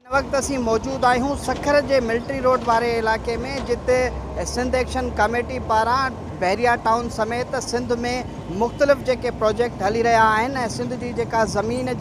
هن وقت اسين موجود آهيون سکر جي ملٽري روڊ واري علائقي ۾ جتي سنڌ ايڪشن ڪاميٽي پاران بحريا ٽائون سميت سنڌ ۾ مختلف جيڪي پروجيڪٽ هلي رهيا آهن ۽ سنڌ جي جيڪا زمين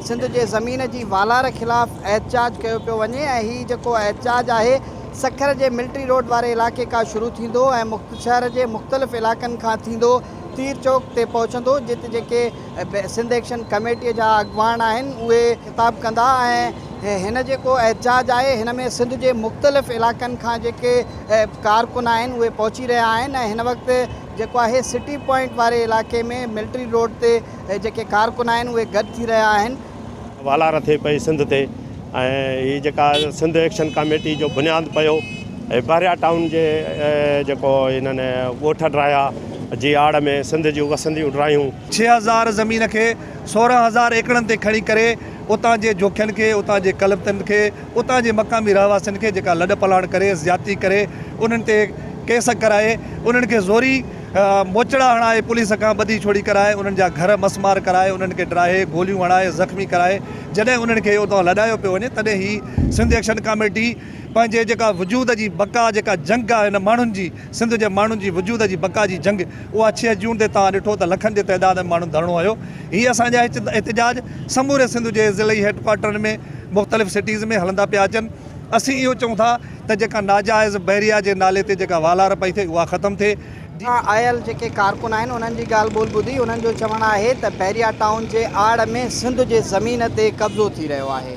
سنڌ جي زمين جي والار خلاف احتجاج ڪيو پيو وڃي ۽ هي جيڪو احتجاج آهي سکر جي ملٽري روڊ واري علائقي کا شروع ٿيندو ۽ شهر جي مختلف علائقن کان ٿيندو تير چوڪ تي پهچندو جت جيڪي سنڌ ايڪشن ڪميٽيء جا اڳواڻ آهن اهي خطاب ڪندا ۽ هن جيڪو احتجاج آهي هن ۾ سنڌ جي مختلف علائقن کان جيڪي ڪارڪن آهن اهي پهچي رهيا آهن ۽ هن وقت جيڪو آهي سٽي پوائنٽ واري علائقي ۾ ملٽري روڊ تي جيڪي ڪارڪن آهن اهي گڏ ٿي رهيا آهن والار ٿئي پئي سنڌ تي ۽ هي جيڪا سنڌ ايڪشن ڪاميٽي جو بنياد پيو هي بحريا ٽائون جي جيڪو هنن ڳوٺ ڊرايا جي آڙ ۾ سنڌ جون وسنديون ڊرايون. ڇهه هزار زمين کي سورهن هزار ايڪڙن تي کڻي ڪري اتان جي جوکين کي اتان جي ڪلبتن کي اتان جي مقامي رهواسين کي جيڪا لڏ پلاڻ ڪري زيادتي ڪري انهن تي ڪيس ڪرائي انهن کي زوري موچڙا هڻائي پوليس کان ٻڌي ڇوڙي ڪرائي انهن جا گهر مس مار ڪرائي انهن کي ڊاهي گوليون هڻائي زخمي ڪرائي جڏهن انهن کي اتان لڏايو پيو وڃي تڏهن هي سنڌ ايڪشن ڪاميٽي پنهنجي جيڪا وجود جي بقا جيڪا جنگ آهي هن ماڻهن جي سنڌ جي ماڻهن جي وجود جي بقا جي جنگ اها ڇهه جون تي توهان ڏٺو ته لکن جي تعداد ۾ ماڻهن ڌرڻو هنيو هي اسان جا احتجاج سموري سنڌ جي ضلعي هيڊ ڪوارٽرن ۾ مختلف سٽيز ۾ هلندا پيا اچن اسين اهو چئون ٿا ته جيڪا ناجائز بحريا جي نالي تي جيڪا والار پئي ٿئي اها ختم ٿئي. اتان آيل جيڪي ڪارڪن آهن انهن جي ڳالهه ٻولهه ٻڌي انهن جو چوڻ آهي ته بحريا ٽائون جي آڙ ۾ سنڌ جي زمين تي قبضو ٿي رهيو آهي.